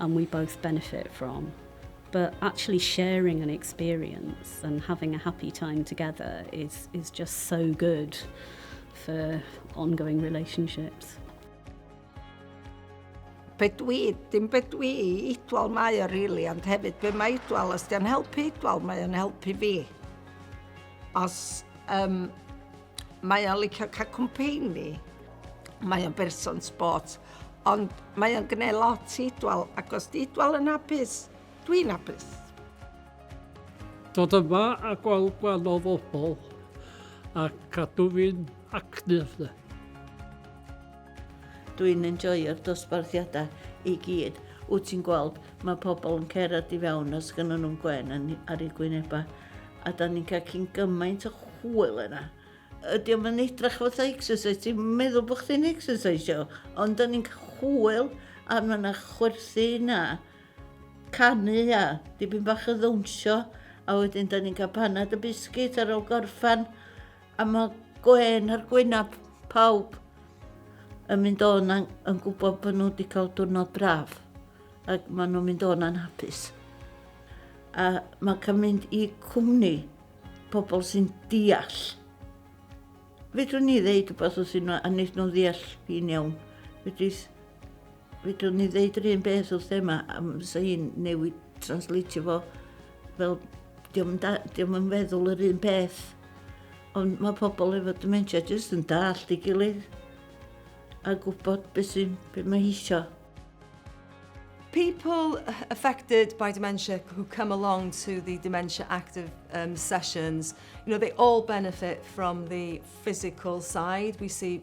and we both benefit from but actually sharing an experience and having a happy time together is, is just so good for ongoing relationships. Be dwi, dim be dwi i idwal mae o really, ond hefyd be mae idwal, os di'n helpu idwal, mae'n helpu fi. Os um, Mae o'n licio cael cwmpeini. Mae o'n berson sbort. Ond mae o'n gwneud lot i Idwal, ac os di Idwal yn hapus, dwi'n hapus. Dod yma a gweld gwahanol bobl a cadw fi'n actif. Dwi'n enjoyo'r dosbarthiadau i gyd. Wyt ti'n gweld, mae pobl yn cerdded i fewn os gynnyn nhw'n gwên ar eu gwynebau. A da ni'n cael cyn gymaint o chwyl yna. Ydy o'n fan edrach fatha exercise, ti'n meddwl bod chdi'n exercise o, ond da ni'n cael chwyl a mae yna chwerthu yna, canu a dipyn bach o ddawnsio, a wedyn da ni'n cael panad y biscuit ar ôl gorffan, A mae gwên ar gwynab pawb yn mynd o'n yn gwybod bod nhw wedi cael diwrnod braf ac maen nhw'n mynd o'n anhapus. A mae cael mynd i cwmni pobl sy'n deall. Fedrwn ni ddeud rhywbeth wrth nhw a wneud nhw'n ddeall fi'n iawn. Fedrith Fedrwn ni ddeud yr un beth wrth Emma am fysa hi'n newid translatio fo fel diolch da, diolch yn feddwl yr un peth. Ond mae pobl efo dementia jyst yn dallt i gilydd a gwybod beth sy'n beth mae eisiau. People affected by dementia who come along to the dementia active um, sessions, you know, they all benefit from the physical side. We see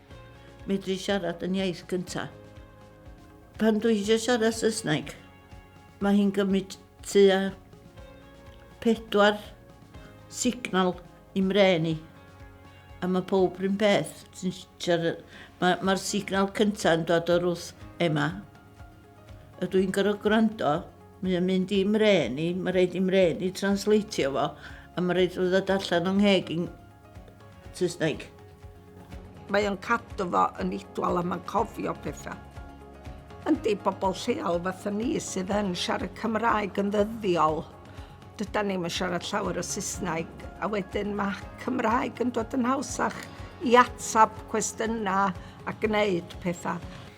Medru siarad yn iaith gynta. Pan dwi eisiau siarad Saesneg, mae hi'n gymryd tua pedwar signal i mren i. A mae pob rhywun peth. Mae'r signal cyntaf yn dod o'r wrth Emma. Ydw i'n gorfod gwrando? Mae o'n mynd i mren i, mae rhaid i mren i translatio fo, a mae rhaid fo ddod allan o'n ngheg i'n Saesneg. Mae o'n cadw fo yn idwal a mae'n cofio pethau. Yndi, bobl lleol fatha ni sydd yn siarad Cymraeg yn ddyddiol, dydan ni'm yn siarad llawer o Saesneg, a wedyn mae Cymraeg yn dod yn hawsach i atab cwestiynau a gwneud pethau.